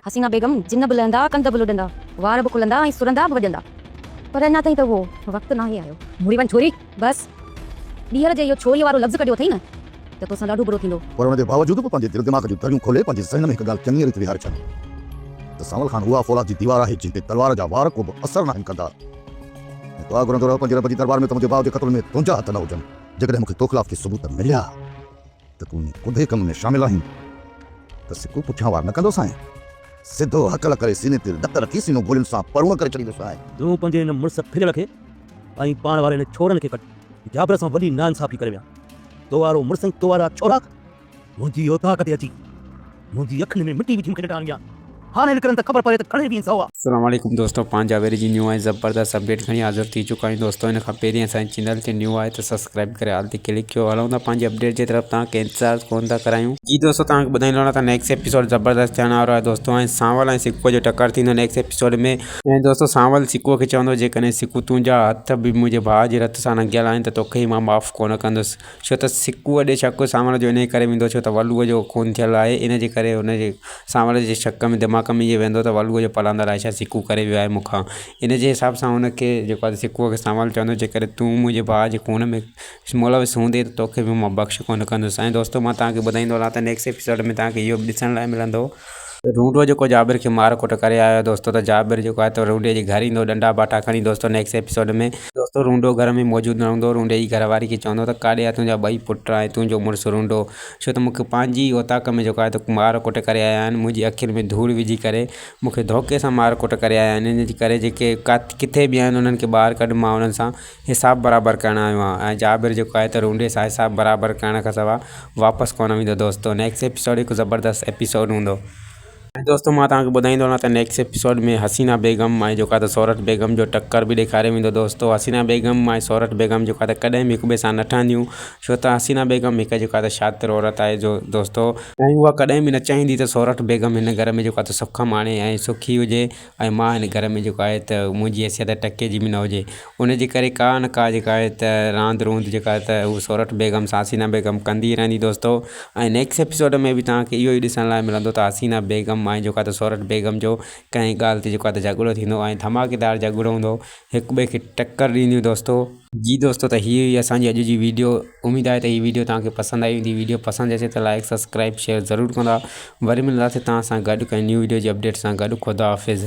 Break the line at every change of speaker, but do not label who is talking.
حسينه
بيگم، جن به لهندا، ڪنڌ به لڏندا، وار به کلندا ۽ سرندا به وڄندا. پر اڃا تائين ته اهو وقت ناهي آيو. مڙي وڃ ڇوري، بس! ٻيهر جي اهو ڇوري وارو لفظ ڪڍيو اٿئي نه ته توسان ڏاڍو برو ٿيندو. پر ان جي باوجود به پنهنجي
دل دماغ جون دريون کولي پنهنجي ذهن ۾ هڪ ڳالهه چڱيء ريت ويهاري ڇڏي ته سانول خان اها فولاد جي ديوار آهي جنهن تي تلوار جا وار ڪوبه اثر ناهن ڪندا ۽ دعا گهرندو رهه پنهنجي رب جي دربار ۾ ته منهنجي ڀاء جي قتل ۾ تنهنجا هٿ نه هجن. جيڪڏهن مون کي توخلاف ڪي ثبوت مليا ته تون انهي ڪوڏهي ڪم ۾ شامل آهين ته سکو پٺيان وار نه ڪندوسانء، سڌو هڪل ڪري سيني تي لت رکي سينو گولين سان پروڻ ڪري ڇڏيندوسانء. تون پنهنجي هن مڙس
ڦليل کي ۽ پاڻ واري هن ڇورن کي ڪڍ، جابر سان وڏي ناانصافي ڪري ويا، تو وارو مڙس ۽ تو وارا ڇورا! منهنجي اوطاق تي اچي منهنجي اکين ۾ مٽي وجهي مون کي ڏٽا هڻيا. هاڻي نڪرن ته خبر پوي ته گهڻي ويهين سوا. اسلام عليڪم دوستو
پنهنجا ويري جي نيون ۽ زبردست اپڊيٽ کڻي حاضر ٿي چڪا آهيون دوستو ان کان پهرين اسان جي چينل تي نيون آهي ته سبسڪرائيب ڪري آل تي ڪلڪ ڪيو هلون ٿا پنهنجي اپڊيٽ جي طرف توهان کي انتظار ڪونه ٿا ڪرايون. جي دوستو توهان کي ٻڌائيندو هلان ته نيڪسٽ ايپيسوڊ زبردست ٿيڻ وارو آهي دوستو هاڻي سانول ۽ سڪوء جو ٽڪر ٿيندو نيڪسٽ ايپيسوڊ ۾ ۽ دوستو سانول سڪوء کي چوندو جيڪڏهن سڪو تنهنجا هٿ به منهنجي ڀاء جي رت سان رنگيل آهن ته توکي مان معاف ڪونه ڪندس ڇو ته سڪوء ڏي شڪ سانوڻ جو انهيء ڪري ويندو ڇو ته ولوء جو خون ٿيل آهي، ان جي ڪري هن جي سانوڻ جي شڪ ۾ دماغ ۾ اهو ويندو ته ولوء جو پلاندر آهي ڇا سڪو ڪري ويو آهي مون کان، ان جي حساب سان هن کي جيڪو آهي سڪوء کي سانوڻ چوندو جيڪڏهن تون منهنجي ڀاء جي خون ۾ ملوث هوندين ته توکي به مان بخش ڪونه ڪندس ۽ دوستو مان توهان کي ٻڌائيندو هلان ته نيڪسٽ ايپيسوڊ ۾ توهان کي اهو به ڏسڻ لاء ملندو. روڊو جيڪو جابر کي مار ڪٽ ڪري آيو دوستو ته جابر جيڪو آهي تو روڊي جي گهر ايندو ڏنڊا باٽا کڻي دوستو نيڪس ايپيسوڊ ۾ دوستو روڊو گهر ۾ موجود نه هوندو روڊي جي گهر واري کي چوندو ته ڪاڏي آ تنهنجا ٻئي پٽ ۽ تنهنجو مڙس روڊو ڇو ته مون کي پنهنجي ئي اوطاق ۾ جيڪو آهي تو مار ڪٽ ڪري آيا آهن منهنجي اکين ۾ ڌوڙ وجهي ڪري مون کي ڌوڪي سان مار ڪٽ ڪري آيا آهن ان جي ڪري جيڪي ڪٿي به آهن انهن کي ٻاهر ڪڍ مان انهن سان حساب برابر ڪرڻ آيو آهيان ۽ جابر جيڪو آهي ته رونڊي سان حساب برابر ڪرڻ کان سوا واپس ڪونه ويندو دوستو نيڪسٽ ايپيسوڊ هڪ زبردست ايپيسوڊ هوندو ۽ دوستو مان توهان کي ٻڌائيندو رهان ته نيڪسٽ ايپيسوڊ ۾ حسينا بيگم ۽ جيڪو آهي ته سورٺ بيگم جو ٽڪر به ڏيکاريو ويندو دوستو حسينا بيگم ۽ سورٺ بيگم جيڪو آهي ته ڪڏهن به هڪ ٻئي سان نه ٺهنديون ڇو ته حسينا بيگم هڪ جيڪو آهي ته شاطر عورت آهي جو دوستو ۽ اها ڪڏهن به نه چاهيندي ته سورٺ بيگم هن گهر ۾ جيڪو آهي ته سک ماڻي ۽ سکي هجي ۽ مان هن گهر ۾ جيڪو آهي ته منهنجي حيثيت ٽڪي جي به نه هجي ان جي ڪري ڪا نه ڪا جيڪا آهي ته راند روند جيڪا آهي ته هو سورٺ بيگم سان حسينا بيگم ڪندي رهندي دوستو ۽ نيڪس ايپيسوڊ ۾ به توهان کي اهو ئي ڏسڻ لاء ملندو ته حسينا بيگم ۽ جيڪو آهي ته سورٺ بيگم جو ڪنهن ڳالهه تي جيڪو آهي ته جهڳڙو ٿيندو ۽ ڌماڪيدار جهڳڙو هوندو هڪ ٻئي کي ٽڪر ڏينديون دوستو. جي دوستو ته هي هئي اسان جي اڄ جي ويڊيو اميد آهي ته هي ويڊيو توهان کي پسند آئي هوندي ويڊيو پسند اچي ته لائيڪ سبسڪرائيب شيئر ضرور ڪندا وري ملنداسين توهان سان گڏ ڪنهن نيو ويڊيو جي اپڊيٽ سان گڏ خدا حافظ.